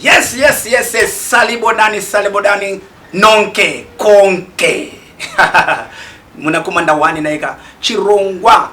Yes, yes, yes, yes. Salibodani, salibodani, nonke, konke. Munakumanda wani naika. Chirongwa,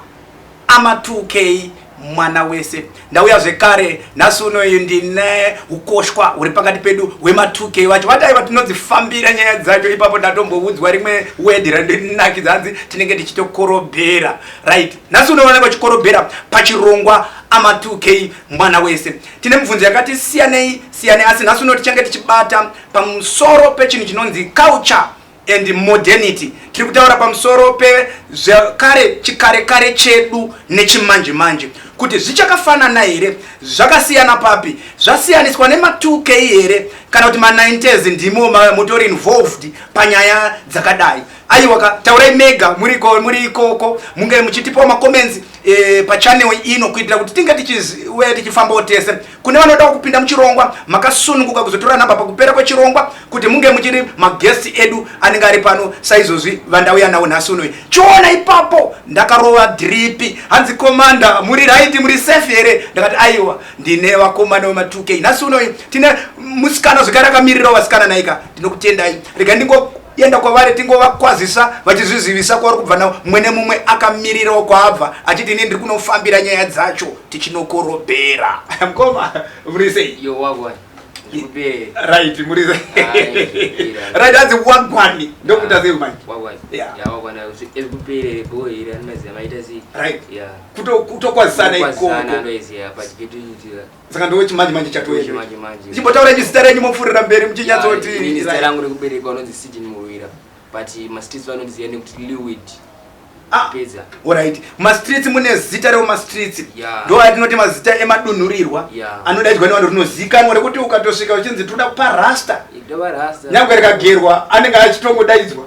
amatukei, mwana wese. Ndauya zvekare, nasu unoyu ndine ukoshwa, uri pakati pedu, wematukei wacho. Vatai vatinodzifambira nyaya dzacho, ipapo ndatomboudzwa rimwe wedi randinakidza hanzi tinenge tichitokorobhera. Right. Nasu unoonekwa chikorobhera pachirongwa amatukei mwana wese. Tine mibvunzo yakati siyanei siyanei asi nhasi uno tichange tichibata pamusoro pechinhu chinonzi culture and modernity. Tiri kutaura pamusoro pezvekare chikare kare chedu nechimanje manje kuti zvichakafanana here, zvakasiyana papi, zvasiyaniswa nema2k here kana kuti ma90s ndimo mutori involved panyaya dzakadai. Aiwa ka taurai mega muriko muri ikoko munge muchitipawo macomments e, pachanel ino kuitira kuti tinge tichiuya tichifambawo tese kune vanoda kupinda muchirongwa makasununguka kuzotora nhamba pakupera kwechirongwa kuti munge muchiri maguest edu anenge ari pano saizvozvi vandauya nawo nhasi unoyi chiona ipapo ndakarova dripi hanzi komanda muri raiti muri safe here ndakati aiwa ndine vakomana vema2k nhasi unoyi tine musikana zvekare akamirirawo vasikana naika ndinokutendai rega ndingo yenda kwavari tingovakwazisa vachizvizivisa kwavari kubva navo mwene mumwe akamirirawo kwaabva achiti ini ndiri kunofambira nyaya dzacho tichinokorobhera mkoma muri sei right muri right hanzi wagwani ndokuita ah, sei manje kutokwazisana ikoko saka ndowe chimanje manje chatoende chimbotaura nyu zita renyu mopfurira mberi muchinyatsoti ini zita rangu rekuberekwa unonzi sidin muwira but mastreets vanondiziva nekuti lewid ah, peza orit mastreets mune zita reo mastreets ndo atinoti mazita emadunhurirwa anodaidzwa nevanhu rinozikanwa rekuti ukatosvika uchinzi tinoda kupa rasta nyangwe rikagerwa anenge achitongodaidzwa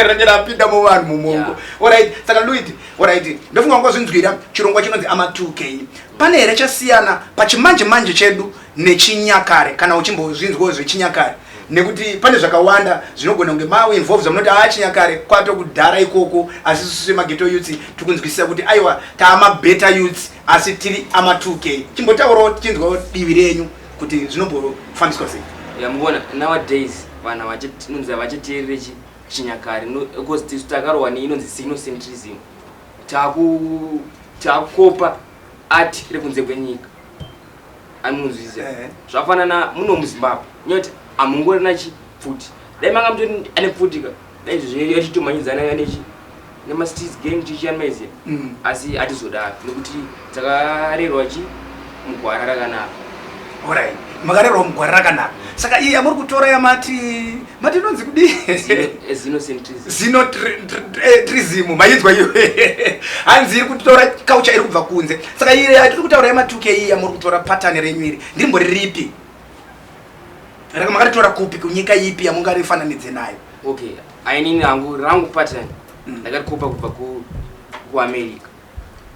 range rapinda muvanhu mumongo orit saka lewid orit ndofunga wangozvinzwira chirongwa chinonzi amatuke Pane here chasiyana pachimanje manje chedu nechinyakare kana uchimbozvinzwawo zvechinyakare nekuti pane zvakawanda zvinogona kunge mau involves amunoti aa chinyakare kwato kudhara ikoko asi susu semageto youths tiri kunzwisisa kuti aiwa taamabeta youths asi tiri ama 2 k chimbotaurawo tichinzwawo divi renyu kuti zvinombofambiswa sei yamuvona nowadays vanhu vachinonzi havachiteerere chinyakare because tisu takarohwa neinonzi sinocentrism takukopa art rekunze kwenyika anonzwiza eh. zvafanana muno muzimbabwe nyoti amungorina chipfuti dai manga mutoti ane pfuti ka dai izvozvo yatitomhanyidzana nechi nemastreets gang tichiyanmaize mm. asi atizodaro nekuti Takarerwa chi mugwara rakanaka. Alright. Makarerwa mugwara rakanaka. Saka iye amuri kutora yamati mati inonzi kudi? Zino centrism. Zino trism. Eh, Mayinzwa iyo. Hanzi iri kutora kaucha iri kubva kunze. Saka iye tiri kutaura yamatuke iye amuri kutora pattern renyu iri. Ndimbo ripi? Raka makaritora kupi kunyika ipi yamungarifananidze nayo? Okay. Ainini hangu rangu pattern. Mm. Ndakarikopa kubva ku ku America.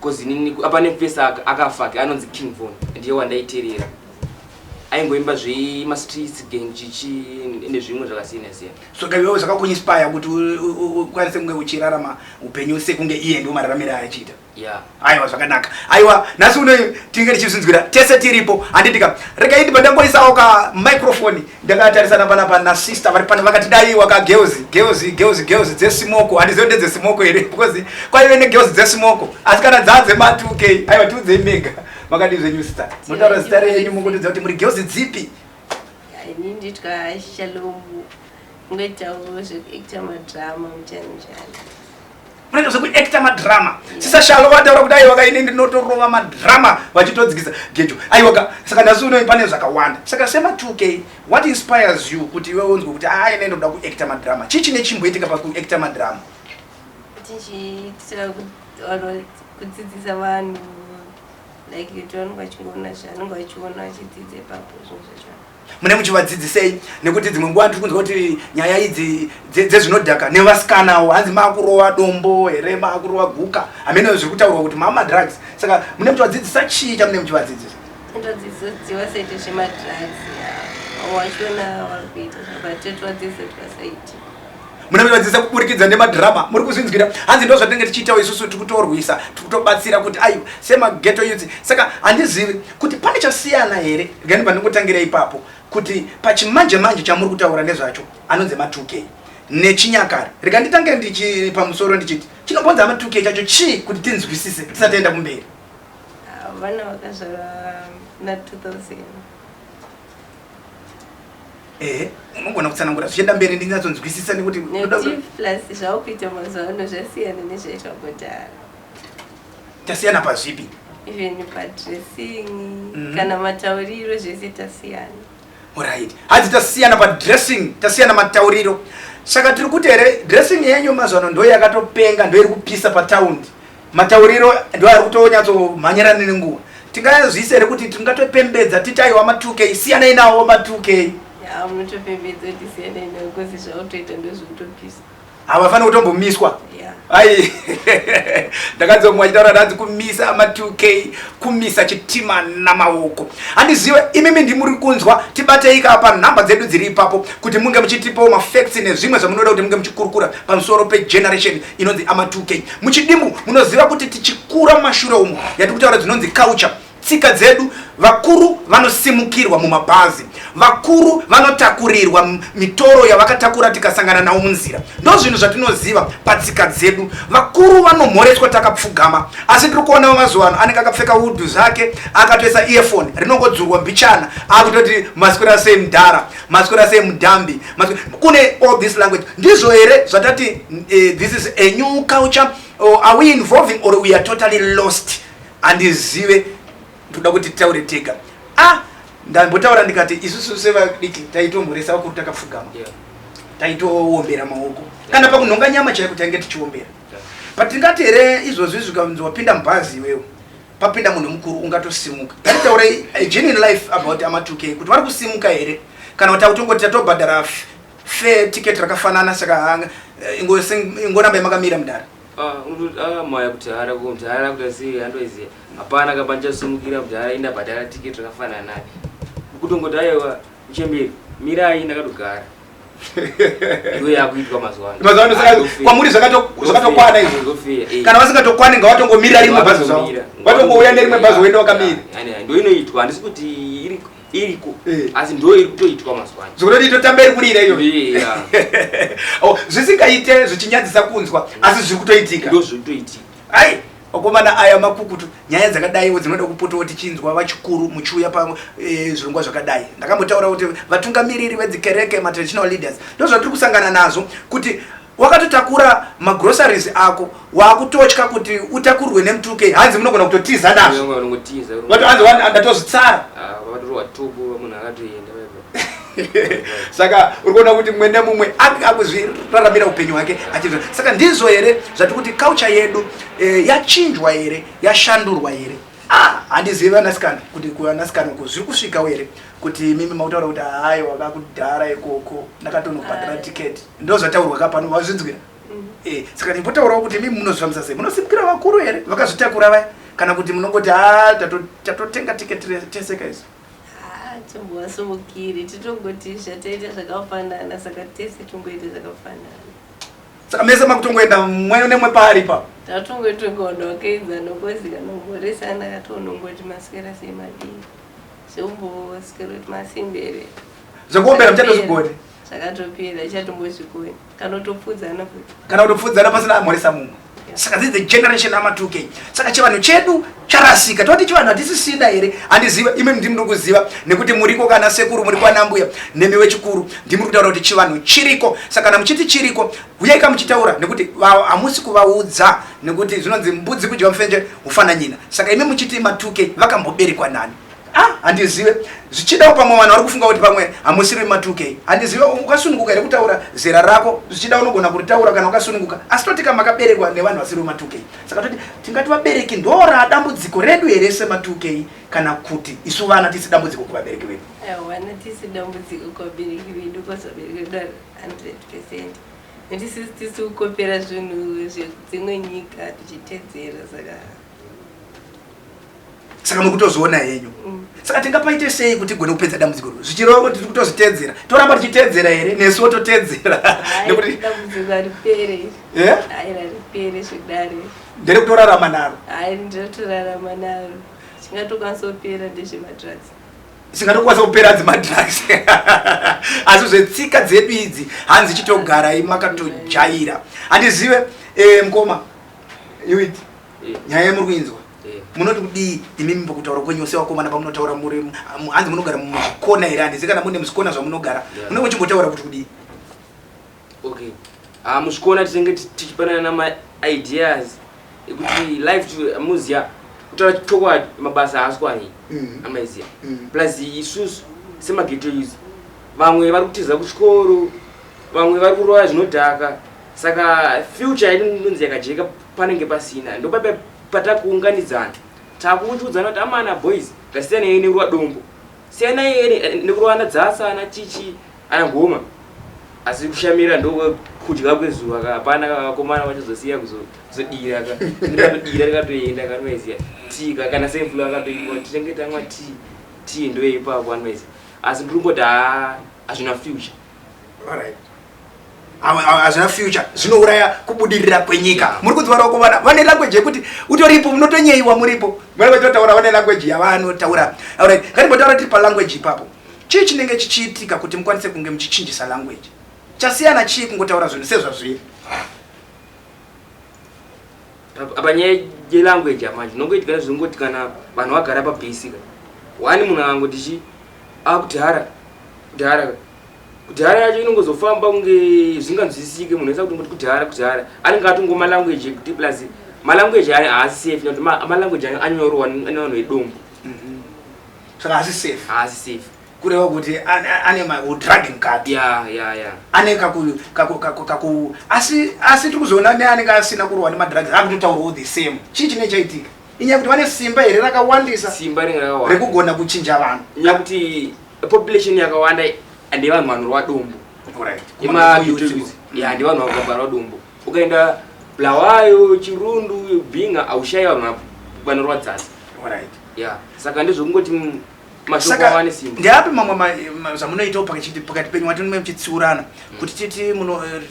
Cause inini apa nepesa aka akafake anonzi King Von ndiye wandaiterera. Aingoimba zvema streets gang chichi nezvimwe zvakasiyana siyana. So kaiwewe zvakakuinspire kuti ukwanise kunge uchirarama upenyu sekunge iye ndiwo mararamire achiita. Yeah. Aiwa zvakanaka. Aiwa nhasi uno tinge tichizvinzwira tese tiripo handiti ka. Rega indi pandangoisawo ka microphone Ndakatarisana pana pana sister vari pano vakati dai waka girls girls girls girls dze smoko and zero dze smoko here because kwa iwe ne girls dze smoko asi kana dzadze ma 2k ayo tu dze mega makadi zve new star mutara star yenyu mungoto dzati muri girls dzipi ini nditwa shalom ngoita wo zve actor ma drama mutani mutani unoita zvekuacta madrama sisa shalo vataura kuti aiwaka ini ndinotorova madrama vachitodzikisa gejo aiwaka saka nhasi uno pane zvakawanda saka sema 2k what inspires you kuti iwe unzwe kuti aa ah, ine ndoda kuacta madrama chii chine chimboitika pakuacta madrama tichiitira kudzidzisa vanhu like utoonwa chingoona zvanenge vachiona vachidzidza ipapo zvinhu zvacho mune muchivadzidzisei nekuti dzimwe nguva ndiri kunzwa kuti nyaya idzi dzezvinodhaka nevasikanawo hanzi maakurova dombo here maakurova guka hameno zviri kutaurwa kuti mama drugs saka mune muchivadzidzisa chii chamune muchivadzidzisa muna mivadzisa kuburikidza nemadhirama muri kuzvinzwira hanzi ndo zvatinenge tichiitawo isusu tiri kutorwisa tiri kutobatsira kuti aiwa semageto yudzi saka handizivi kuti pane chasiyana here gani pandingotangira ipapo kuti pachimanje manje chamuri kutaura nezvacho anonzi matukei nechinyakare rega nditange ndichi pamusoro ndichiti chinombonza matuke chacho chii kuti tinzwisise tisataenda kumberi ah, vana vakazvarwa na 2000 ehe unogona kutsanangura zvichienda mberi ndinyatsonzwisisa nekuti plus zvaukuita mazuva ano zvasiyana nezvaitwa kudhara tasiyana pazvipi even padressing mm -hmm. kana matauriro zvese tasiyana orit hanzi tasiyana padressing tasiyana matauriro saka tiri kuti here dressing yenyu mazuva ano ndoyakatopenga ndoiri kupisa pataundi Matauriro ndo ari kutonyatsohmanyira nini nguva. Tingazviisa here kuti tingatopembedza titi aiwa matukei siyanai nawo matukei. Ya munotopembedza kuti siyanai nawo kozi zvautoita ndozvokutopisa. Havafaniri kutombomiswa. Yeah. Ai ndakanzwa mumwe achitaura ndanzi kumisa ama2k kumisa chitima namaoko handizive imimi ndimuri kunzwa tibatei kaa panhamba dzedu dziri ipapo kuti munge muchitipawo mafacts nezvimwe zvamunoda kuti munge muchikurukura pamusoro pegeneration inonzi amatuke muchidimbu munoziva kuti tichikura mumashure umu yatiri kutaura dzinonzi culture tsika dzedu vakuru vanosimukirwa mumabhazi vakuru vanotakurirwa mitoro yavakatakura tikasangana nawo munzira ndo zvinhu zvatinoziva patsika dzedu vakuru vanomhoreswa takapfugama asi tiri kuona vamazuva ano anenge akapfeka udhu zvake akatoisa earfone rinongodzurwa mbichana akutoti masikwira sei mudhara maswera sei mudhambi kune all this language ndizvo here zvatati uh, this is a new culture or are we involving or we are totally lost handizive toda kuti titaure tega ah ndambotaura ndikati isusu sevadiki taitomhoresa vakuru takapfugama yeah. taitoombera maoko yeah. kana pakunhonga nyama chaiko tainge tichiombera yeah. but tingati here izvozvi zvikanzi wapinda mubhazi iwewo papinda munhu mukuru ungatosimuka taitaura genuine life about ama 2k kuti vari kusimuka here kana kuti akutongoti tatobhadhara fe ticket rakafanana saka hanga eh, ingoramba yamakamira mudhara ah, ah, maya kuti hara mudhara kuti asi handoiziva hapana kamba ndichasumukira mudhara indabhadhara ticket rakafanana naye kutongoti aiwa uchemberi mirai ndakatogara kwamuri zvakatokwana izvi kana vasingatokwani nga vatongomirira rimwe bhazi zvavo vatongouya nerimwe bhazi woenda wakamira ndoinoitwa handisi kuti iriko eh. asi ndo iri kutoitwa mazuva ano zvokuti itotamba iri kurira iyo oh, zvisingaite zvichinyadzisa kunzwa asi zviri kutoitika ndo zviri kutoitika ai Vakomana aya makukutu, nyaya dzakadaiwo dzinoda kupotawo tichinzwa vachikuru muchiuya pazvirongwa eh, zvakadai. Ndakambotaura kuti vatungamiriri vedzikereke, matraditional leaders, ndozvatiri kusangana nazvo kuti wakatotakura magroceries ako wakutotya kuti utakurwe nemutuke hanzi munogona kutotiza nazvo ndatozvitsara ah, saka uri kuona kuti mumwe nemumwe anga akuzviraramira upenyu hwake achii saka ndizvo here zvati kuti culture yedu eh, yachinjwa here yashandurwa here ah, handizivi vanasikana kuti kuvanasikana uko zviri kusvikawo here kuti mimi makutaura kuti hayi wava kudhara ikoko ndakatonobhadhara tiketi ndo zvataurwa ka pano vazvinzwira mhm. eh, saka ndimbotaurawo kuti mimi munozvifambisa sei munosimukira vakuru here vakazvitakura vaya kana kuti munongoti ha ah, tatotenga tiketi teseka izo Haa tombovasumukiri titongoti zvataita zvakafanana saka tese tongoita zvakafanana. Saka mese makutongoenda mwe nemwe paari ipapo. Tatongoita kunge wakaedza nokozika nomhoresana katonongoti maswera sei madii. Zvomboswera kuti masimbere. Zvekuombera muchatozvigone. Zvakatopera ichatombozvigone. kana kutopfuudzana futi kana kutopfuudzana pasina amhoresa mumwe saka this the generation ama 2k saka chivanhu chedu charasika toti chivanhu hatisisina here handiziva imi ndimi ndiri kuziva nekuti muriko kana sekuru muri kwanambuya nemi wechikuru ndimi ri kutaura kuti chivanhu chiriko saka kana muchiti chiriko huyaika muchitaura nekuti hamusi kuvaudza nekuti zvinonzi mbudzi kudya mufenje hufananyina saka imi muchiti ma 2k vakamboberekwa nani Ah, handizive zvichidawo pamwe vanhu vari kufunga kuti pamwe hamusiri vematukei handizive ukasununguka here kutaura zera rako zvichida unogona kuritaura kana ukasununguka asi totika makaberekwa nevanhu vasiri vematukei saka toti tingati vabereki ndoraa dambudziko redu here sematukei kana kuti isu vana tisi dambudziko kuvabereki vedu vana tisi dambudziko kuvabereki vedu kwazabereki vedu 100 percent netisi tisi kukopera zvinhu zvedzimwe nyika tichitedzera saka saka mukutozviona henyu mm. saka tingapaite sei kuti tigone kupedza dambudziko ro zvichirova tiri kutozvitedzera toramba tichitedzera here nesu wototedzera nekuti ndere kutorarama naro zvingatokwanisa kupera ndezvemadrugs zvingatokwanisa kupera dzemadrugs asi zvetsika dzedu idzi hanzi chitogarai makatojaira handizive eh, mkoma yuit nyaya yamuri kuinzwa munoti kudii imimi pakutaura kwenyu ose vakomana pamunotaura muri hanzi munogara muzvikona here handizi kana mune muzvikona zvamunogara munenge muchimbotaura kuti kudii okay ah, muzvikona tinenge tichipanana namaideas ekuti life to muziya kutaura chokwadi mabasa haaswani mm. amaiziya mm. plus isusu semageto use vamwe vari kutiza kuchikoro vamwe vari kurova zvinodhaka saka future yedu ndonzi yakajeka panenge pasina ndopape patakuunganidzana takuuchudzana kuti amana boys ngasiyanei nekurowa dombo siyanai nekurowana dzasa ana chichi ana ngoma asi kushamira ndokudya kwezuva ka hapana kavakomana vachazosiya kuzodira ka ndokadira rikatoenda kanoeziya tii ka kana semvula vakatoiwa tichenge tamwa tii tii ndoyeipapo anoeziya asi ndiri kungoti haa hazvina future All right. hazvina future zvinouraya kubudirira kwenyika muri kudzivarawo kuvana vane language yekuti utoripo munotonyeiwa muripo mwana vachinotaura vane language yavanotaura aurit ngatimbotaura tiri palanguage ipapo chii chinenge chichiitika kuti mukwanise kunge muchichinjisa language chasiyana chii kungotaura zvinhu sezvazviri apa nyaya yelanguage amanje nongoitikana zvinongoti kana vanhu vagara pabasika wani munhu angangoti chi akuti hara kuti hara kudhara yacho inongozofamba kunge zvinganzwisisike munhu esa kuti ngoti kudhara kudhara anenge atongo malanguage ekuti plus malanguage ayo haasi safe nekuti malanguage ayo anyorwa nevanhu vedombo mhm. saka haasi safe haasi safe kureva kuti ane madragi mukati ya ya ya ane kaku kaku kaku kaku asi asi tiri kuzoona neanenge asina kurwa nemadragi akutotaurawo the same chii chinenge chaitika inyaya kuti vane simba here rakawandisa simba ringe rakawanda rekugona kuchinja vanhu inyaya kuti population yakawanda and yevanhu vanorwa dumbu Alright. Kuma youth Kuma- youth. ya ndi vanhu vakabarwa dumbu ukaenda bulawayo chirundu binga aushaya vanhu vanorwa dzasi Alright. ya saka ndezvekungoti mm, saka ndeapi mamwe zvamunoitawo pakati penyu wati mume muchitsiurana mm. kuti titi eh,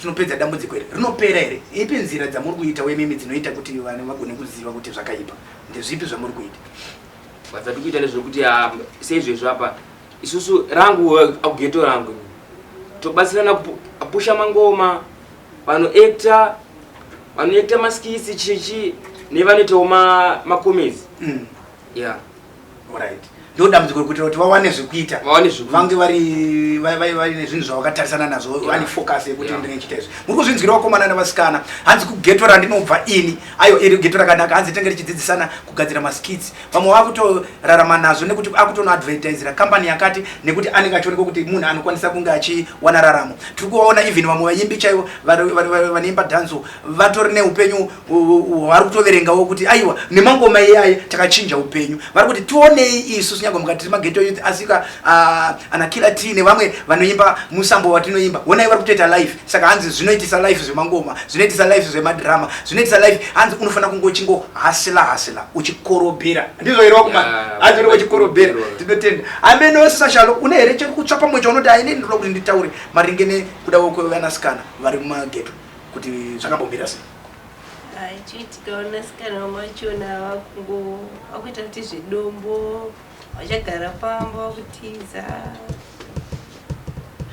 tinopedza dambudziko here rinopera here ipi nzira dzamuri kuita wemimi dzinoita kuti vana vagone kuziva kuti zvakaipa ndezvipi zvamuri kuita vadzati kuita nezvekuti ah, seizvezvo apa isusu rangu eh, akugeto rangu tobatsirana kupusha mangoma vanoekta vanoekta maskisi chichi nevanoitawo makomezi mm. ya Alright. Ndoo dambudziko rekuitira kuti vawane zvekuita. Vawane zvekuita. Vange vari vai- vai- vaine zvinhu zvavakatarisana nazvo Yeah. vane focus yekuti Yeah. ndinenge ndichiita izvi. Muri kuzvinzwira vakomana nevasikana. Hanzi kugeto randinobva ini. Ayo iri geto rakanaka hanzi tenge richidzidzisana kugadzira maskits. Vamwe vakutorarama nazvo nekuti akutonoadvertisera company yakati nekuti anenge achionekwa kuti munhu anokwanisa kunge achiwana raramo. Tiri kuvaona even vamwe vaimbi chaivo vari- vari- vari- vanoimba danzo vatori neupenyu vari kutoverengawo kuti aiwa nemangoma iyaye takachinja upenyu vari kuti tionei isu sinyanga mukati tiri mageto youth asika ah, anakila tii nevamwe vanoimba musambo watinoimba honai vari kutoita life saka hanzi zvinoitisa life zvemangoma zvinoitisa life zvemadhirama zvinoitisa life hanzi unofanira kunge uchingo hasila hasila uchikorobhera ndizvo here wakuma hanzi uri uchikorobhera tinotenda ameno sasashalo une here chekutsva pamwe chaunoti aine ndinoda kuti nditaure maringe nekuda kwekuvanasikana vari mumageto kuti zvakambomira sei achiti kavanasikana vamachona vakungo vakuita kuti zvedombo vachagara pamba vakutiza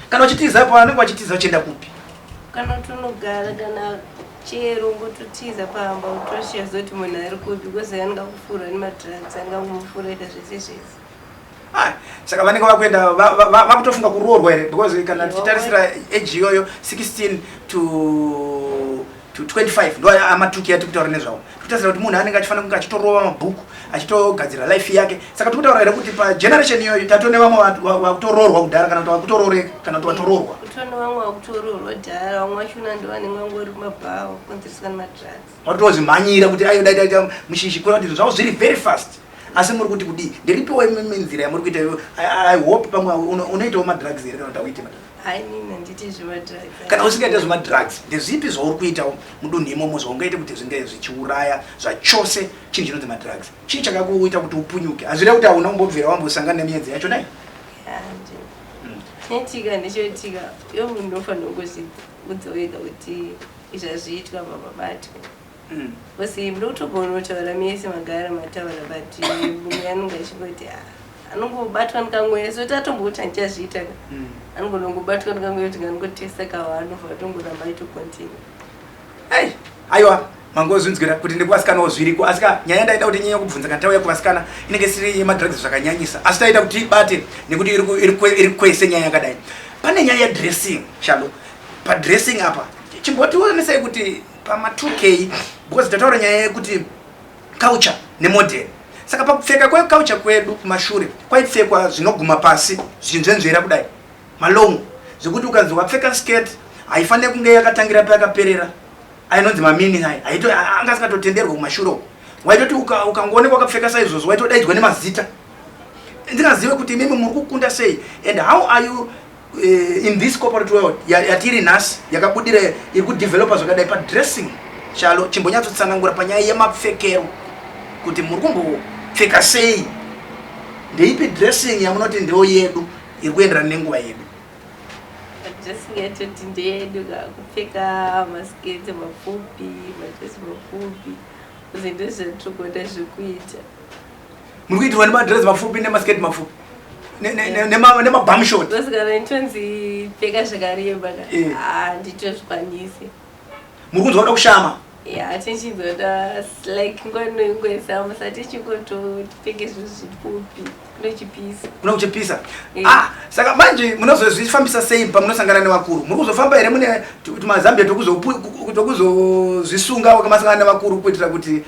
kana uchitiza pa anenge wachitiza uchienda kupi kana tonogara kana chero ngototiza pamba utoshiya zoti munhu ari kupi because angakufuura nemadrugs angakumufuraita zvese zvese Ah, saka vanenge vakuenda vakutofunga kuroorwa here because kana tichitarisira age iyoyo 16 to to 25 ndo amatuki ati kutaura nezvawo tikutarisira kuti munhu anenge achifanira kunge achitorova mabhuku achitogadzira life yake saka tikutaura here kuti pageneration iyoyo tato nevamwe vakutoroorwa kudhara kana kuti vakutorooreka kana kuti vatoroorwa kutone vamwe vakutoroorwa dhara vamwe vachona ndo vanenge vangori mabhawa kukonzereswa nemadrugs watozvimhanyira kuti ayo dai taita mushishi kuona kuti zvavo zviri very fast asi muri kuti kudii ndiripiwo imwe nzira yamuri kuita iyo i hope pamwe unoitawo madrugs here kana kuti auite kana usingaita zvemadrugs ndezvipi zvauri kuitawo mudunhu imomo zvaungaite kuti zvinge zvichiuraya zvachose chinhu chinonzi madrugs chii chakakuita kuti upunyuke hazvira kuti hauna kumbobvira wambosangana nemiyedzi yacho nai chinoitika ndichoitika yo munhu unofanira kuzviudza wega kuti Zvazviitwa baba batwa Bcause muri kutogona kutaura mese magara mataura but mumwe anonge achingoti ah, anongobatwa ndikamweya so tatomboti andichazviita ka mm. anogona kungobatwa ndikamweya kuti nganongotesta kawa anobva atongoramba aitocontinue ai aiwa mangozvinzwira kuti ndekuvasikanawo zviriko asi ka nyaya ndaida kuti nyanya kubvunza kana tauya kuvasikana inenge siri yemadrugs zvakanyanyisa asi taita kuti ibate nekuti iri kwese nyaya yakadai pane nyaya yedressing shalo padressing apa chimbotionesai kuti pama 2k because tataura nyaya yekuti culture nemodern saka pakupfeka kweculture kwedu kumashure kwaipfekwa zvinoguma pasi zvichinzvenzvera kudai malong zvekuti ukanzi wapfeka skirt haifanire kunge yakatangira payakaperera ainonzi mamini ai anga asingatotenderwa kumashure uko waitoti ukangoonekwa wakapfeka saizvozvo waitodaidzwa nemazita ndingazive kuti imimi muri kukunda sei and how are you Eh, in this corporate world yatiri nhasi yakabudira iri kudevelopa zvakadai padressing chalo chimbonyatsotsanangura panyaya yemapfekero kuti muri kumbopfeka sei ndeipi dressing yamunoti ndeo yedu iri kuenderana nenguva yedu dressing yatoti ndeyedu kakupfeka masketi mapfupi madresi mapfupi zvinhu zvatogona zvekuita muri kuitirwa nemadress mapfupi nemasketi mapfupi nemabamshot muri kunzwa kuda kushama ya tichizoda like nguva inoingoisa musa tichingototenga zvinhu zvipfupi kunochipisa kunochipisa eh. ah saka manje munozozvifambisa sei pamunosangana nevakuru muri kuzofamba here mune tumazambia tokuzozvisunga wakamasangana nevakuru kuitira kuti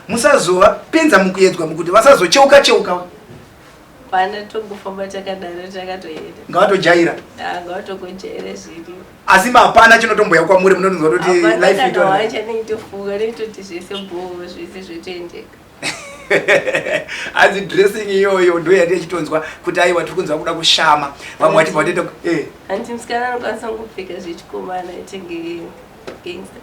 musazova penza mukuyedzwa mukuti vasazocheuka cheuka hapana tongofamba takadaro takatoenda ngawatojaira ah, ngawatokojaira zviri asi hapana chinotomboya kwamuri munonzwa kuti lifewacha neitofunga neitoti zvese bhoo zvese zvotoendeka hanzi dressing iyoyo ndo yati ichitonzwa kuti aiwa tiri kunzwa kuda kushama vamwe vati vatenda eh. hanzi musikana anokwanisa kungopfeka zvechikomana tenge gangster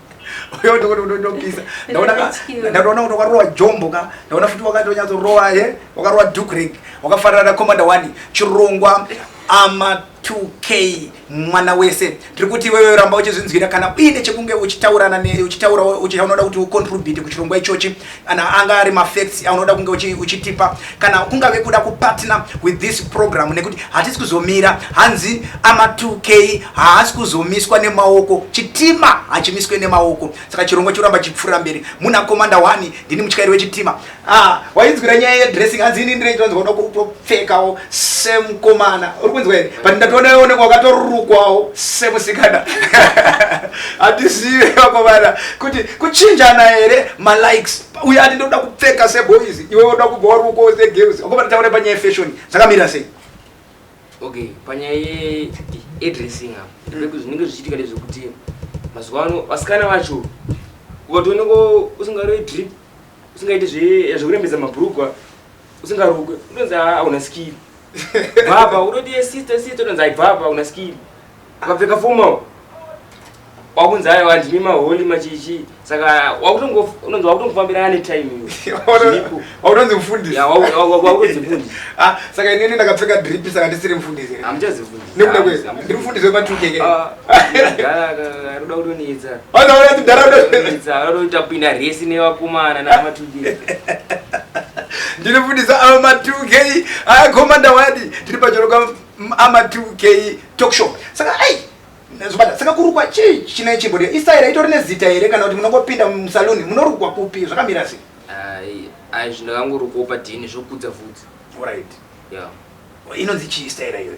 uyo ndokuti unotopisa ndaona kuti wakarowa jombo ka ndaona futi wakatonyatsorova he eh? wakarowa dukrek wakafanana na commander one chirongwa ama 2k mwana wese tiri kuti iwewe ramba uchizvinzwira kana uine chekunge uchitaurana uchitaura uchaunoda kuti ucontribute kuchirongwa ichochi kana anga ari mafacts aunoda kunge uchitipa kana kungave kuda kupartner with this program nekuti hatisi kuzomira hanzi ama 2k haasi kuzomiswa nemaoko chitima hachimiswe nemaoko saka chirongwa choramba chipfuura mberi muna komanda 1 ndini mutyairi wechitima ah, wainzwira nyaya yedressing hanzi ini ndine chinonzi kuda kutopfekawo semukomana uri kunzwa here but ndatoona onekwa wakatorukwawo semusikana hatizive vakomana kuti kuchinjana here malikes uye ati ndoda kupfeka seboys iwe woda kubva wari uko segirls wakoba titaure panyaya yefashion zvakamira sei okay panyaya yeadressing apa mm. zvinenge zvichiitika ndezvekuti mazuva ano vasikana vacho ukatooneko usingaroi drip usingaiti zvekurembedza mabrugwa usingarukwe unonzi auna skiri baba unoti sister sister unonzi aibvapa una skiri akapfeka formal wakunzi ayo handimi maholi machichi saka wakutongonzi wakutongofambirana netime iyowakutonzi mfundisiwakutonzimfundisi ah, saka inini ndakapfeka drip saka ndisiri mfundisi amuchazifundisnekuda kwese ndiri mfundisi wematukeke ah, roda kutoniitsa roda kutapinda resi nevakomana namatukeke ndiri mfundisi avo matukei ayakomanda wadi tiri pachoroka Amatuke talk show. Saka ai zvobata saka kurukwa chii chine chimbodya istaira itori nezita here kana kuti munongopinda musaluni munorukwa kupi zvakamira sei ai zvinhu ndakangorukwawo padhini zvokudza vhudzi orit ya inonzi chii istaira iyoyo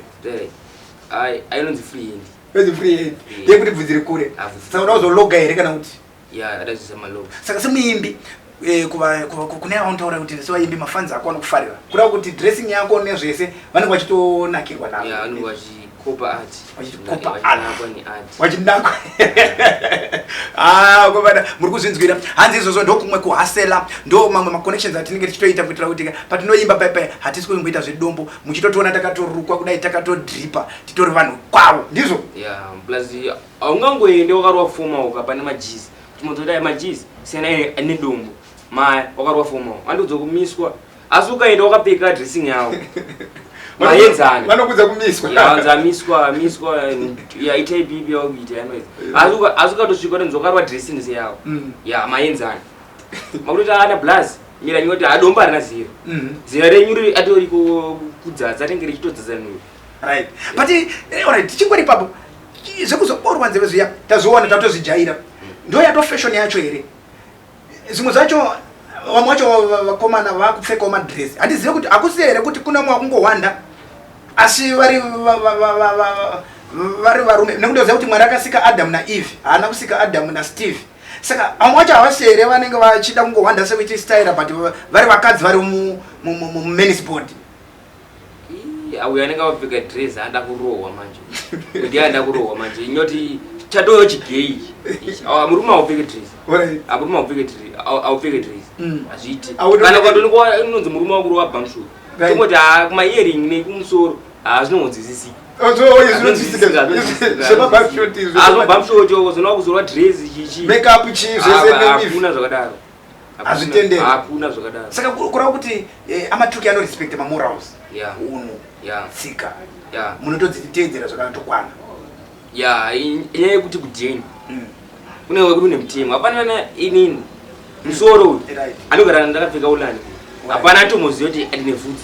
ai inonzi free hand inonzi free hand yekuti bvudzi rikure saka unozoga here kana kuti Yeah, that is my love. Saka semuimbi eh, kuva- kuva- ku- kune auntaura kuti sevaimbi mafanzi ako anokufarira kureva kuti dressing yako nezvese vanenge vachitonakirwa navo Yeah, vanenge vachikopa art. Vachikopa art. Vachinakwa neart. wachinakwa Ah, kwavana muri kuzvinzwira hanzi izvozvo ndokumwe kuhasela ndo mamwe maconnections atinenge tichitoita kuitira kuti patinoimba pai pai hatisi kungoita zvedombo muchitotiona takatorukwa kudai takatodripa titori vanhu kwavo ndizvo Yeah, plus Haungangoende wakarova fomauka pane majizi kuti mototi aya majizi siyana aine aine dumbu maya wakarova fomauka andiudza kumiswa asi ukaenda wakapfeka dressing yavo maenzana vanokudza kumiswa yaanza amiswa amiswa yaita ipipi yakuita yanoita asi uka- asi ukatosvika utonzi wakarova dressing seyavo Mm. ya maenzana makutoti ana blaz mira nyoti adomba harina zero Mhm. zera renyu riri atoriko kudzadza rinenge richitodzadza nhuyu right but eh, alright tichingori papo zvekuzoborwa nzeve zviya tazviona tatozvijaira ndo yato fashion yacho here zvimwe zvacho vamwe vacho vakomana vakupfekawo madress handizive kuti hakusi here kuti kuna mwe wakungohwanda asi vari vari varume nekundoziva kuti mwari akasika adamu naeve haana kusika adamu nasteve saka vamwe vacho havasi here vanenge vachida kungohwanda sekuiti staira but vari vakadzi vari mumanisbord auyo anenge akapfeka dress anoda kurohwa manje kuti anoda kurohwa manje inoti chatoyo chigei murume aupfeke dress murume aupfeke dress aupfeke dress mm. hazviiti kana kwatonikuwa inonzi murume wakurohwa bamshuru tomoti haa kuma earing nekumusoro haa zvinongonzwisisika zvemabamshoti zvemabamshoti zvinowa kuzorwa dress chichi makeup chii zvese hakuna zvakadaro hazvitenderi hakuna zvakadaro saka kurava kuti eh, amatuki anorespecta mamorals yeah. unhu yeah. tsika yeah. munotodziteedzera zvakanatokwana ya inyaya yekuti kudini mm. kune wekuti une mutemo hapana na inini mm. musoro uyu anogara ndakapfeka ulani hapana atomoziva kuti ndine vhudzi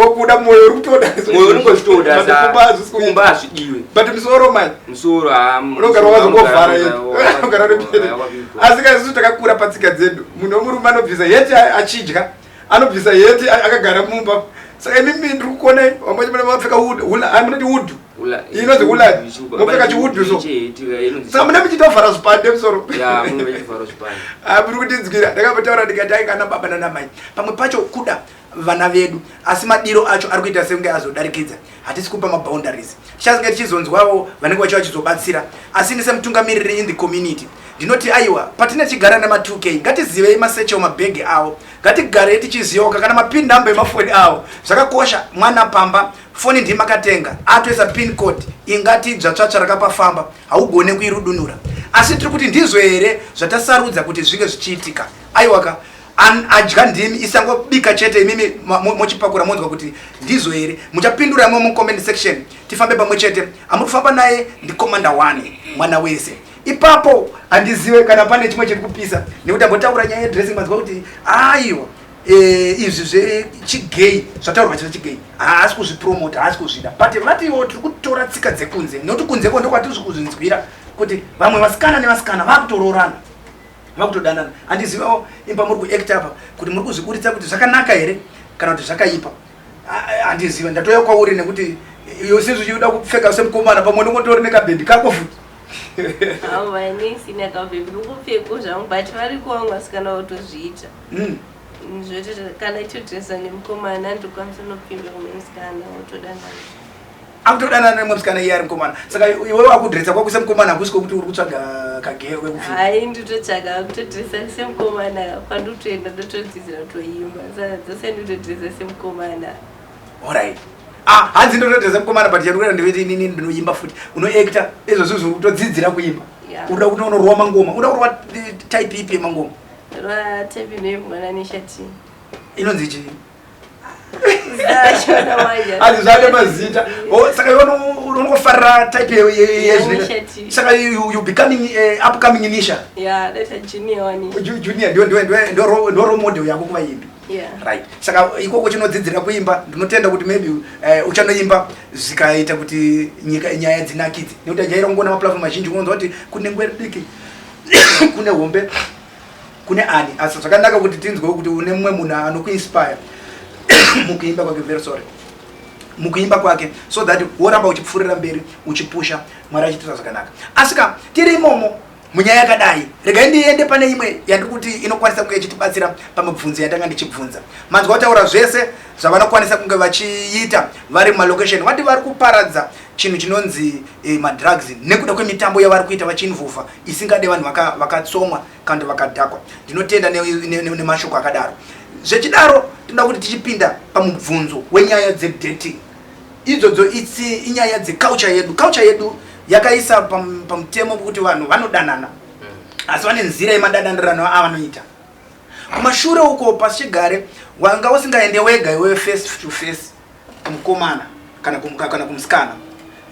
wakuda moyo uri kutodamoyo unongotodakumba hazvidiwe but musoro mani musoro unogara wakazokovhara unogara nepere asi kaisusu takakura patsika dzedu munhu wemurume anobvisa yeti achidya anobvisa yeti akagara mumba saka imimi ndiri kukonai vamwe vapfeka wood munoti wood inonzi hula mopfeka chiudhu so sa mune muchitovhara zvipande musoro aburi kundinzwira ndakambotaura ndikati ainga ana baba nanamai pamwe pacho kuda vana vedu asi madiro acho ari kuita sekunge azodarikidza hatisi kupa maboundaries tichazenge tichizonzwawo vanenge vachiva chizobatsira asi ini semutungamiriri in the community ndinoti aiwa patine chigara nema 2k ngatizivei maseche omabhegi avo ngatigarei tichizivawo kakana mapin number emafoni avo zvakakosha mwana pamba Foni ndiye makatenga atoisa pin code ingati idzva tsvatsva rakapafamba haugone kuirudunura asi tiri kuti ndizvo here zvatasarudza kuti zvinge zvichiitika aiwaka an adya ndimi isangobika chete imimi mochipakura mo monzwa kuti ndizvo here muchapindura mo mucomment section tifambe pamwe chete amuri kufamba naye ndikomanda one mwana wese ipapo handizive kana pane chimwe chiri kupisa nekuti ambotaura nyaya yedressing manzwa kuti aiwa Eh, izvi zvechigay zvataurwa chino chigay haasi kuzvipromota haasi kuzvida but vatiwo tiri kutora tsika dzekunze noti kunze ko ndokwatiri kuzvinzwira kuti vamwe vasikana nevasikana vakutoroorana vakutodanana handizivawo imba muri kuact apa kuti muri kuzviburitsa kuti zvakanaka here kana kuti zvakaipa handiziva ndatouya kwauri nekuti yosizvi uchida kupfeka semukomana pamwe ndongotori nekabhendi kako futi avo vainesi nekabhendi ukupfeko zvangu but vari kuwanga sikana votozviita mm. zvoti kana itodresa nemukomana andokwanisa nokupinda kumwe musikana wotodanana akutodanana nemwe musikana iye ari mukomana saka iwe wakudresa kwakuisa mukomana hakusi kokuti uri kutsvaga kagero kekuai nditotsvaga akutodresa semukomana kwandotoenda ndotodzidzira kutoimba saka dzose nditodresa semukomana orit ah, hanzi ndotodresa mukomana but chandikurera ndeveti inini ndinoimba futi unoacta izvozvo zviri kutodzidzira kuimba unoda kuti unoruwa mangoma unoda kuruwa eh, type ipi yemangoma rwatepi nei mwana neshati inonzi chii hanzi zvane mazita oh, saka unongofarira type yezvinasaka you becoming eh, upcoming nisha junior ndorole model yako kuva imbi right saka ikoko chinodzidzira kuimba ndinotenda kuti maybe eh, uchanoimba zvikaita kuti nyika nyaya dzinakidze nekuti ajaira kungoona maplatform mazhinji unonzwa kuti kunengwe ridiki kune hombe kune ani asi zvakanaka kuti tinzwewo kuti une mumwe munhu anokuinspire mukuimba kwake very sorry mukuimba kwake so that woramba uchipfuurira mberi uchipusha mwari achitita zvakanaka asika tiri imomo munyaya yakadai regai ndiende pane imwe yandiri kuti inokwanisa kunge ichitibatsira pamibvunzo yatanga ndichibvunza manzwa kutaura zvese zvavanokwanisa kunge vachiita vari mumalocation vati vari kuparadza chinhu chinonzi eh, madrugs nekuda kwemitambo yavari kuita vachinvuvha isingade vanhu vakatsomwa vaka kana kuti vakadhakwa ndinotenda nemashoko ne, ne, ne akadaro zvechidaro tinoda kuti tichipinda pamubvunzo wenyaya dzedating idzodzo itsi inyaya dzeculture yedu culture yedu yakaisa pam, pamutemo kuti vanhu vanodanana hmm. asi vane nzira yemadadanirano avanoita kumashure uko pasi chigare wanga usingaende wega iwewe face to face kumukomana kana kumuka kana kumusikana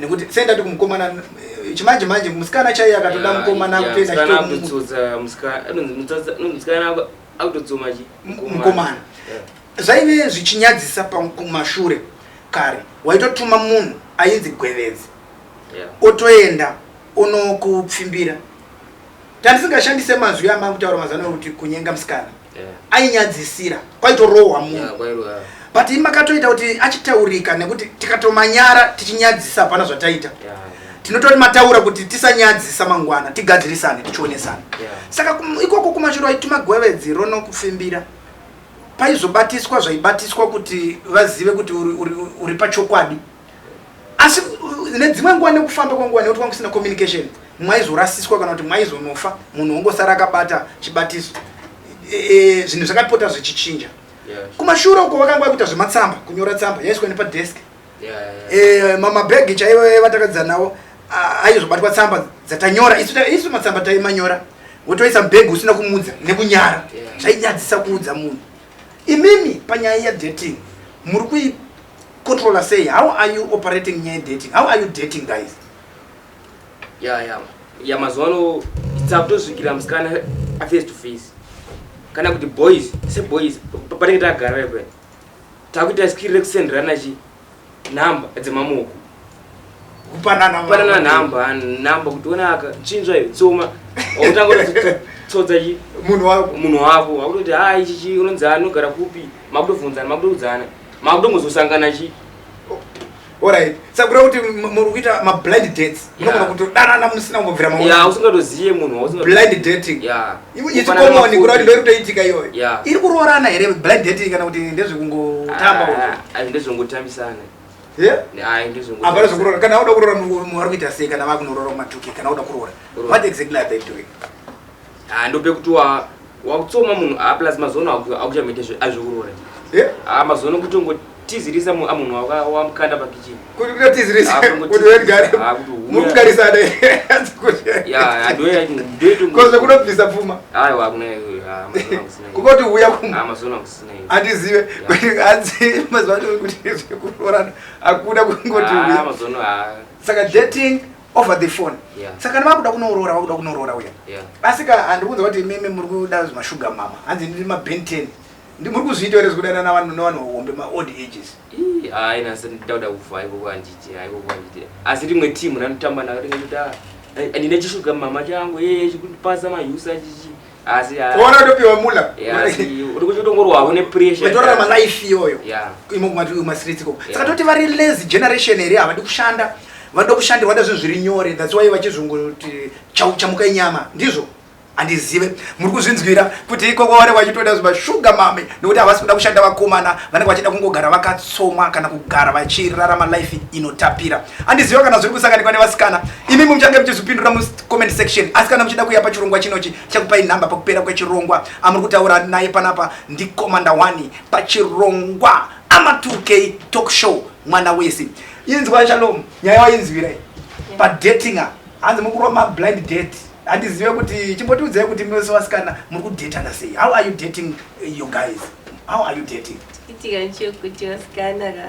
nekuti sei ndati kumukomana eh, chimanje manje musikana chaiye akatoda mukomana kutoenda chitomusikana akutodzoma chi mukomana zvaive zvichinyadzisa pakumashure kare waitotuma munhu ainzi gwevedzi otoenda onokupfimbira tandisingashandise mazwi amakutaura mazano kuti kunyenga musikana ainyadzisira kwaitorohwa munhu but ini makatoita kuti achitaurika nekuti tikatomanyara tichinyadzisa hapana zvataita tinotori mataura kuti tisanyadzisa mangwana tigadzirisane tichionesana saka ikoko kumashuro aituma gwevedzi rono kufimbira paizobatiswa zvaibatiswa kuti vazive kuti uri pachokwadi asi nedzimwe nguva nekufamba kwenguva nekuti kwanga kusina communication mwaizorasiswa kana kuti mwaizonofa munhu wongosara akabata chibatiso e, e, zvinhu zvakapota zvichichinja kumashure uko vakanga vakuita zvematsamba kunyora tsamba yaiswa nepadesk e, mamabhegi chaivo vatakadzidza navo aizobatwa tsamba dzatanyora isu matsamba taimanyora wotoisa mbhegi usina kumudza nekunyara zvainyadzisa kuudza munhu Imimi panyaya ye dating muri kui controller sei how are you operating nyaya dating how are you dating guys ya ya ya mazuvano tsakutosvikira musikana aface to face kana kuti boys seboys patinenge tagara ipe takuita skiri rekusenderana chi nhamba dzemamoko kupanana kupanana nhamba nhamba kuti ona aka chinzwa iyo tsoma wakutangotsodza chi munhu wako munhu wako wakutoti ha ichi chi unonzi anogara kupi makutovunzana makutokudzana makutongozosangana chi orit sakura kuti muri kuita mablind dates unogona kutodanana musina kumbobvira mausingatozive munhublind dating ichikomoni kura kuti ndoirikutoitika iyoyo iri kuroorana here blind dating kana kuti ndezvekungotamba ah, ah, ndezvekungotambisana hapana zvekuroora kana auda kuroora munhu ari kuita sei kana vakunorora matuke kana auda kuroora what exactly are they doing Ah ndope kuti wa wakutsoma munhu ah plus mazono akuchamete zve azviurore. Eh? Ah mazono kutongo tizirisa mu amunhu ah, waka wamkanda pa kitchen. Kuti kuda tizirisa. Ah, kuti we gare. Ah kuti huya. Muri kugarisa ne. Ya ndo ya ndo to. Koze kuno pisa pfuma. Ayo akuna ah mazono kusina. Kukoti huya kuma. Ah mazono kusina. Andizive kuti anzi mazono kuti zvekurorana akuda kungoti ah, huya. Ah mazono ah. Saka dating over the phone yeah. saka kana vakuda kunoroora vakuda kunoroora uya yeah. asi ka handikunza kuti imimi muri kuda mashuga mama hanzi ndiri maben ten muri kuzviita here zvekudana navanhu nevanhu hombe maold ages ainasa nditauda kuva ikoko anditi ikoko anditi asi rimwe timu ranotamba naro ringaita ndine chishuga mama changu yeye chikundipasa mahusa chichi asi ah, kuona topiwa mula uri kuchitongorwa hune pressure metorara malife iyoyo imo kumati uyu masirits ikoko saka toti vari lazy generation here havadi kushanda vanoda kushandirwa da zvinhu zviri nyore that's why vachizvongoti chamuka inyama ndizvo handizive muri kuzvinzwira kuti ikoko vari vachitoda zvimashuga mame nekuti havasi kuda kushanda vakomana vanenge vachida kungogara vakatsomwa kana kugara vachirarama life inotapira handiziva kana zviri kusanganikwa nevasikana imi muchange muchizvipindura comment section asi kana muchida kuya pachirongwa chinochi chakupai nhamba pakupera kwechirongwa amuri kutaura naye panapa ndikomanda wani pachirongwa ama 2k talk show mwana wese inzwa shalom nyaya wainzwirai padatinga hanzi mukurwa mablind date handizive kuti chimbotiudzai kuti mese wasikana muri kudatana sei how are you dating you guys how are you dating itika nchekuti wasikana ka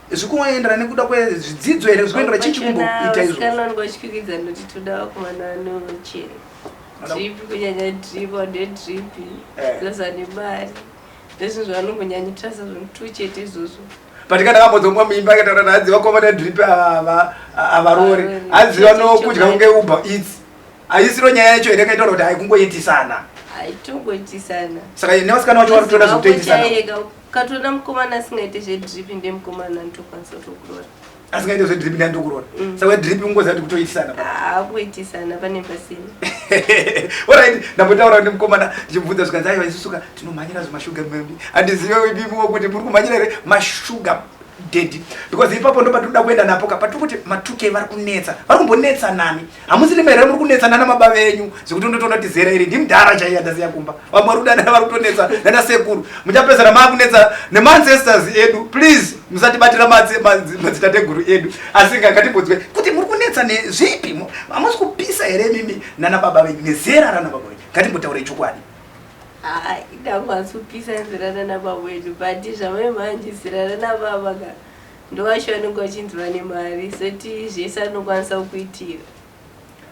zvikungoendera nekuda kwezvidzidzo here zvikuendera chii chikumboita izvoanongotyikidza noti toda vakomana vanoche drip kunyanya drip ode drip eh. zvaza nemari ndezvinhu zvavanongonyanyitirasa zvomutu chete izvozvo but kana vakodzongwa muimba kataura naadziva komana drip avarori adziva nokudya kunge uber eats haisiro nyaya yacho here kaitaura kuti haikungoitisana haitongoitisana saka nevasikana vacho vari kutoda zvekutoitisana Ukatoona mukomana asingaite zvedrip ndemukomana anotokwanisa kutokurora. Asingaite zvedrip ndandokurora. Mm. Saka drip kungoza kuti kutoitisana. Ah, kuitisana pane pasini. Alright, ndambotaura nemukomana ndichimubvunza zvikanzi aiwa isusuka tinomhanyira zvemashuga mumbi. Handizive imimiwo kuti muri kumhanyira here mashuga dedi because ipapo ndo patinoda kuenda napo ka patiri kuti matuke vari kunetsa vari kumbonetsa nani hamusi nime here muri kunetsana namaba venyu zvekuti ndotoona kuti zera iri ndimdhara chaiye andasiya kumba vamwe vari kudanana vari kutonetsa nana sekuru muchapedzana maakunetsa nemaancestors edu please musatibatira madzitateguru edu asi ngakatibodzwe kuti muri kunetsa nezvipi hamusi kupisa here mimi nana baba venyu nezera rana baba venyu ngatimbotaure chokwadi ndakwanisa kupisa zera rana baba venyu but zvamai manje zera rana baba ka Ndovacho vanenge vachinzi vane mari soti zvese anokwanisa kukuitira.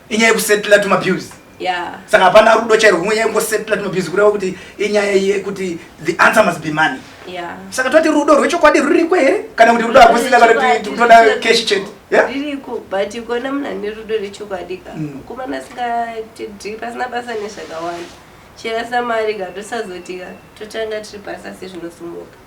Inyaya yekusetla tuma bills. Yeah. Saka hapana rudo chairo kumwe nyaya yengosetla tuma bills kureva kuti inyaya yekuti the answer must be money. Yeah. Saka toti rudo rwechokwadi ruriko here kana kuti rudo hakusina kana kuti toda cash chete. Yeah? Ririko but ikona munhu ane rudo rechokwadi ka. Mm. Kumana asingatidhi pasina basa nezvakawanda. Chera samari ka tosazoti ka totanga tiri basa sezvinosumuka.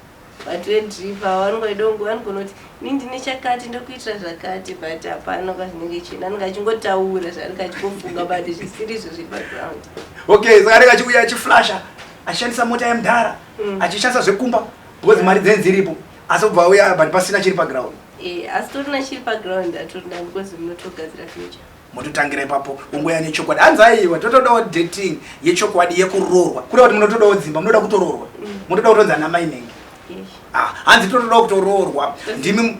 but vedriver avo vanenge vachida kunge vanogona kuti ini ndine chakati ndokuitira zvakati but hapana kwazvinenge chienda anenge achingotaura zvaanenge achingofunga but zvisiri izvo zviri background okay saka anenge achiuya achiflasha achishandisa mota yemudhara mm. achishandisa zvekumba because mari dzenyu dziripo asi obva auya but pasina chiri paground eh, asi torina chiri paground atorina because munotogadzira future mototangira ipapo ungoya nechokwadi hanzi aiwa totodawo dating yechokwadi yekuroorwa kuda kuti munotodawo dzimba munoda kutoroorwa mm. munotoda kutonzi ana mai nenge ah, hanzi totodawo kutoroorwa ndimi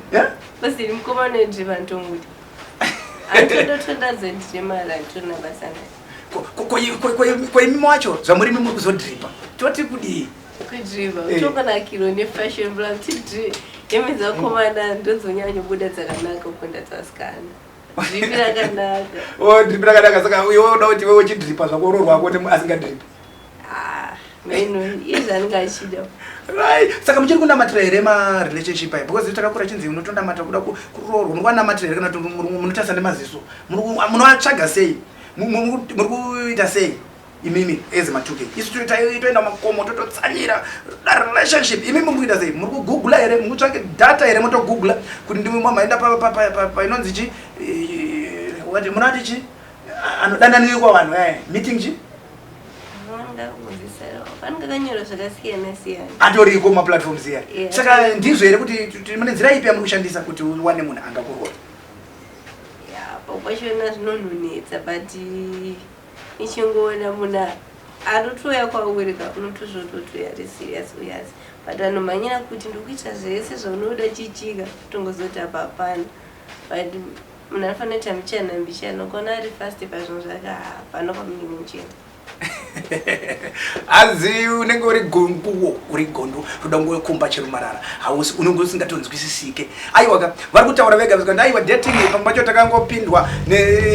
kwaimi wacho zvamuri mi muri kuzodripa toti kudii kudriva eh. utonganakirwa nefashion bla tidri imi dzakomana ndodzonyanyobuda dzakanaka kukunda dzasikana Dripi rakanaka. Oh, dripi rakanaka saka uye woda kuti wewe uchidripa zvako roho rwako asingadripi. Ah, maino iye zvaanenge achida. Right. Saka muchiri kunamatira here ma relationship ayi because takakura chinzi unotonamata kuda kuroorwa muri kwanamatira here kana kuti munotarisa nemaziso munoatsvaga sei muri kuita sei imimi as matuke isu tiri taitoenda makomo tototsanira da relationship imimi muri kuita sei muri kugoogla here muri kutsvake data here motogoogla kuti ndimwe mamaenda painonzi chi wati munati chi anodananiwikwa vanhu e meeting chi atoriko maplatforms iya saka ndizvo here kuti mune nzira ipi yamuri kushandisa kuti uwane munhu angakurora yeah, ichingoona munhu arotouya kwauri ka unoti zvototi uya ari serious uyas but anomhanyira kuti ndikuita zvese zvaunoda chichika tongozoti apa hapana but munhu anofanira kuita mbichana mbichana ukaona ari fast pazvinhu zvake hapana kwamunenge muchienda hanzi unenge uri gonduwo uri gonduwo toda ngowe kumba chero marara hausi unenge usingatonzwisisike Aiwa ka vari kutaura vega vega ndaiwa dating pamwe pacho takangopindwa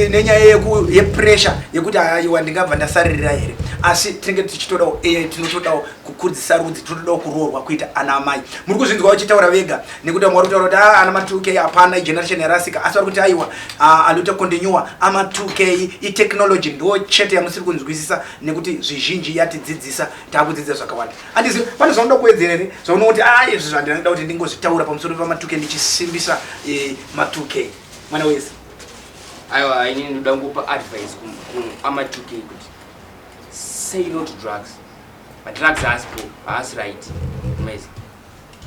nenyaya yeku yepressure yekuti aiwa ndingabva ndasaririra here asi tinenge tichitodawo e tinotodawo kukurudzisa rudzi tinotodawo kuroorwa kuita ana amai muri kuzvinzwa uchitaura vega nekuti vamwe vari kutaura kuti ah, ana ma 2k hapana igeneration yarasika asi vari kuti aiwa ah, alute continue ama 2k itechnology ndo chete yamusiri kunzwisisa nekuti zvizhinji yatidzidzisa taakudzidza zvakawanda Andizi pane zvaunoda kuwedzera here zvaunoona kuti a izvi zvandina ndoda kuti ndingozvitaura pamusoro pamatuke ndichisimbisa eh, matuke mwana wese aiwa ini ndoda kungopa advice kuamatuke kuti say no to drugs madrugs haasi po haasi right maizi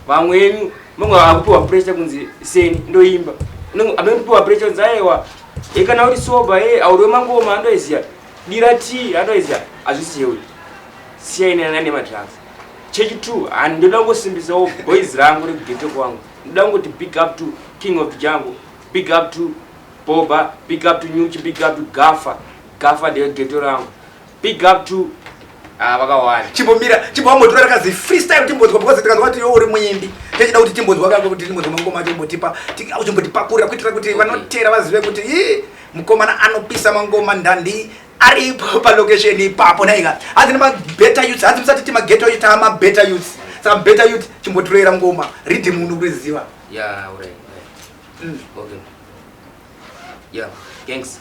vamwe inu manga akupiwa pressure kunzi seni ndoimba amekupiwa pressure kunzi ayewa e kana uri soba e auriwe mangoma andoiziya dira t andoiziya hazvisi cheuri siya ine nane madrugs chechi two handi ndoda kungosimbisawo boys rangu rekugete kwangu ndoda kungoti big up to king of jango big up to boba big up to nyuchi big up to gafa gafa ndeyo geto rangu Big up to Ah, vakawanda chimbomira chimbowambotora rakazi freestyle timbonzwa because tikanzwa kuti youri muimbi techida kuti timbonzwa kako kuti timbonzwa mangoma acho imbotipa uchimbotipakurira kuitira kuti vanotera vazive kuti i mukomana anopisa mangoma ndandi aripo palocation ipapo naika hanzi nemabetter youth hanzi musati timageto youth amabetter youth saka better youth chimbotiroera ngoma ridi munhu kuriziva yeah, right, right. Mm. okay. yeah, thanks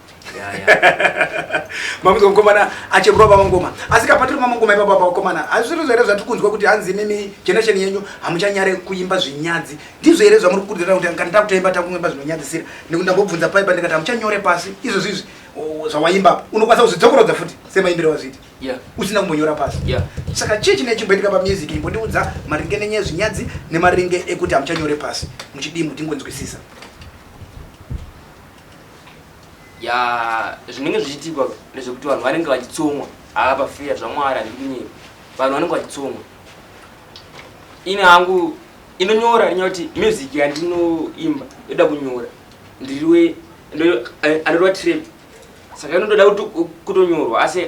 makunzwa mukomana achemurwa vamangoma asi kapatiri mamangoma ipapa pavakomana hazvisiri zvo here zvatiri kunzwa kuti hanzi imimi generation yenyu hamuchanyare kuimba zvinyadzi ndizvo here zvamuri kukurudzira kuti kana takutoimba takuimba zvinonyadzisira nekuti ndambobvunza paipa ndikati hamuchanyore pasi izvozvi izvi zvawaimba unokwanisa kuzvidzokorodza futi semaimbiro wazviita usina kumbonyora pasi saka chii chine chimboitika pamusic imbondiudza maringe nenyaya zvinyadzi nemaringe ekuti hamuchanyore pasi muchidii mutingonzwisisa Yaa zvinenge zvichiitikwa ndezvekuti vanhu vanenge vachitsomwa haa pafeya zvamwari handiri kunyeba vanhu vanenge vachitsomwa ini hangu inonyora rinya kuti music yandinoimba yoda kunyora ndiriwe anorwa trap saka inotoda kutonyorwa asi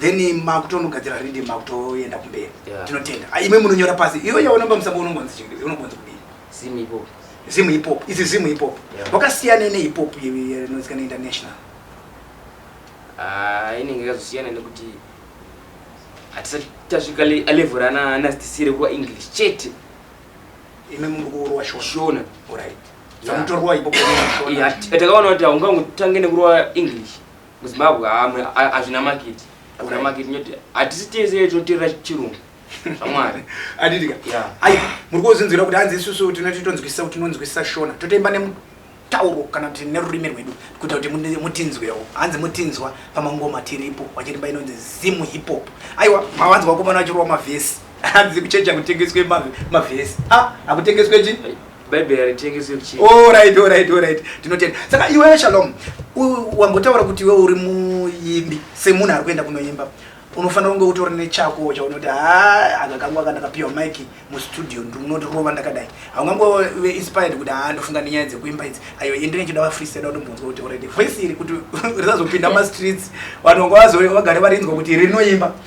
then makutonogadzira ridi makutoenda kumberi tinotenda ah, imwe munonyora pasi iwe yaonamba musango unongonzi chii unongonzi kudii zimu ipopo zimu ipopo izi zimu ipopo wakasiyana neipopo inozikanwa international ah, inenge yakazosiyana nekuti hatisati tasvika level rana anastisire kuva english chete ime muri kuurwa shona orit samutorwa ipopo takaona kuti haungangotange nekurwa english muzimbabwe amwe hazvina makiti hazvina makiti nyoti hatisi tese tinoterera chirungu zvamwari aditika ai muri kuozinzwira kuti hanzi isusu tinoti tonzwisisa kuti tinonzwisisa shona totoimba nemutauro kana kuti nerurimi rwedu kuita kuti mutinzwewo hanzi mutinzwa pamangoma tiripo wachirimba inonzi zimu hip hop aiwa mawanzi wakomana vachirova mavhesi hanzi kuchecha kutengeswe mavhesi a ah, hakutengeswe chi Bible haritengesi kuchii. All right, all right, all right. Tinotenda. Saka iwewe Shalom, wambotaura kuti iwewe uri muimbi semunhu ari kuenda kunoimba. Unofanira kunge utori nechako chaunoti haa aka kangu aka ndakapiwa mic mustudio ndinoti rova ndakadai. Haungangove inspired kuti haa ndofunga nenyaya dzekuimba idzi. Ayo endine chida va freestyle utombonzwa kuti already voice iri kuti risazopinda ma streets vanhu vagare varinzwa kuti rinoimba.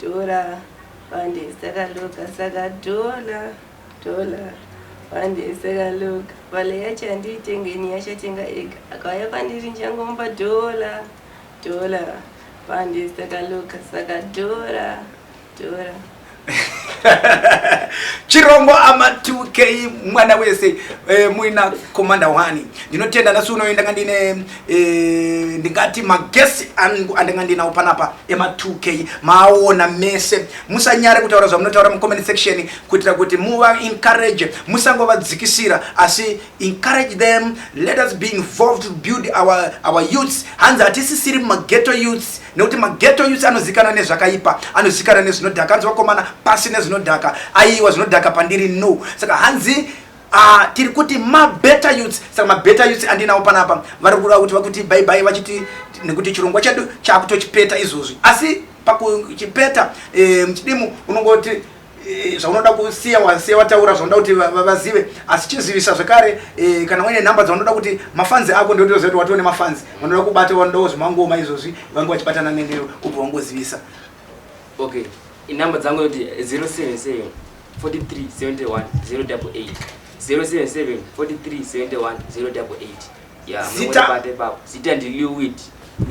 Dhola bande saka loga saka dhola dhola bande saka loga vale yacho andiitengeni yachatenga ega akauya pandiri njangomupa dhola dhola bande saka loga saka dhola dhola chirongo ama 2k mwana wese eh, muina komanda wani ndinotenda nasi unoenda kandine Eh, ndingati magesi angu andinga ndinawo panapa ema 2k maawona mese musanyare kutaura zvamunotaura mucomment section kuitira kuti muva encourage musangovadzikisira asi encourage them let us be involved to build our, our youths hanzi hatisisiri mageto youths nekuti mageto youths anozikana nezvakaipa anozikana nezvinodhaka hanzi vakomana pasi nezvinodhaka aiwa zvinodhaka pandiri no saka hanzi Ah, tiri kuti mabetter youths saka mabetter youths andinawo panapa vari kuda kuti vakuti bye bye vachiti nekuti chirongwa chedu chakutochipeta izvozvi asi pakuchipeta eh, muchidimu unongoti eh, zvaunoda kusiya wasiya wataura zvaunoda kuti va- va- vazive asi chizivisa zvekare eh, kana uine nhamba dzaunoda kuti mafanzi ako ndotoziva kuti watone mafanzi vanoda kubata vanodawo zvemangoma izvozvi vange vachibatana nenewe ubva wangozivisa okay inhamba dzangu yoti 077 zita ndiliwid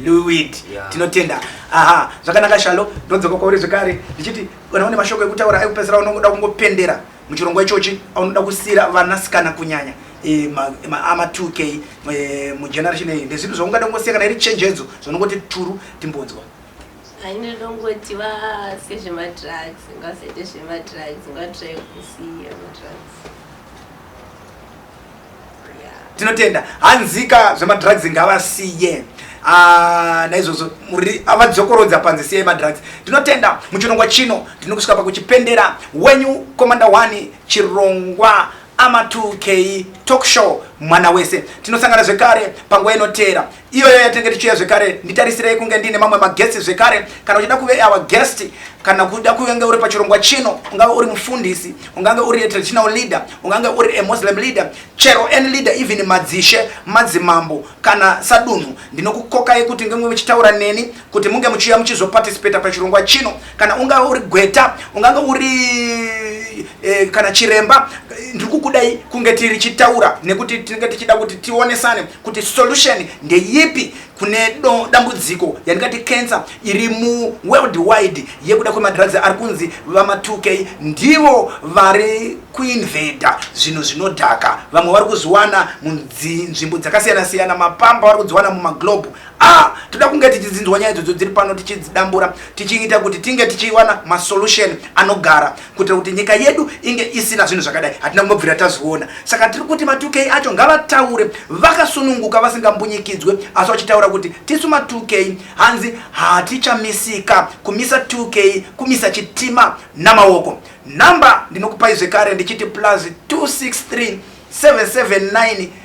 liwid tinotenda aha zvakanaka shalo ndodzoka kwauri zvekare ndichiti kana une mashoko ekutaura ekupedzisira unongoda kungopendera muchirongwa ichochi aunoda kusiyira vanasikana kunyanya e, maama 2k e, mugeneration iyi ndezvipi zvaungada kungosiya kana iri chenjedzo zvanongoti turu timbonzwa Ndinongoti vasiye zvemadrugs, ngavasaite zvemadrugs, ngavatraye kusiya madrugs. tinotenda hanzika zvemadrugs ngavasiye ah, naizvozvo avadzokorodza panze siyai madrugs tinotenda muchirongwa chino ndinokusvika pakuchipendera wenyu komanda 1 chirongwa ama 2k talk show mwana wese tinosangana zvekare panguva inoteera iyoyo yatinenge tichiuya zvekare nditarisirei kunge ndiine mamwe magetsi zvekare kana uchida kuve our guest kana kuda kuvenge uri pachirongwa chino ungave uri mufundisi ungange uri traditional leader ungange uri a muslim leader chero any leader even madzishe madzimambo kana sadunhu ndinokukokai kuti ngemwe muchitaura neni kuti munge muchiuya muchizoparticipata pachirongwa chino kana ungave uri gweta ungange uri eh, kana chiremba ndiri kukudai kunge tiri chitaura nekuti tinenge tichida kuti tionesane kuti solution ndeyipi kune do, dambudziko yandingati cancer iri muworldwide yekuda kwemadrugs ari kunzi vama2k ndivo vari kuinveda zvinhu zvinodhaka vamwe vari kuzviwana munzvimbo dzakasiyana siyana mapamba vari kudziwana mumaglobe ah toda kunge tichidzinzwa nyaya idzodzo dziri pano tichidzidambura tichiita kuti tinge tichiwana masolution anogara kuitira kuti nyika yedu inge isina zvinhu zvakadai hatina kumbobvira tazviona saka tiri kuti matukei acho ngavataure vakasununguka vasingambunyikidzwe asi vachitaura kuti tisu matukei hanzi hatichamisika kumisa tukei kumisa chitima namaoko nhamba ndinokupai zvekare ndichiti plus 263 779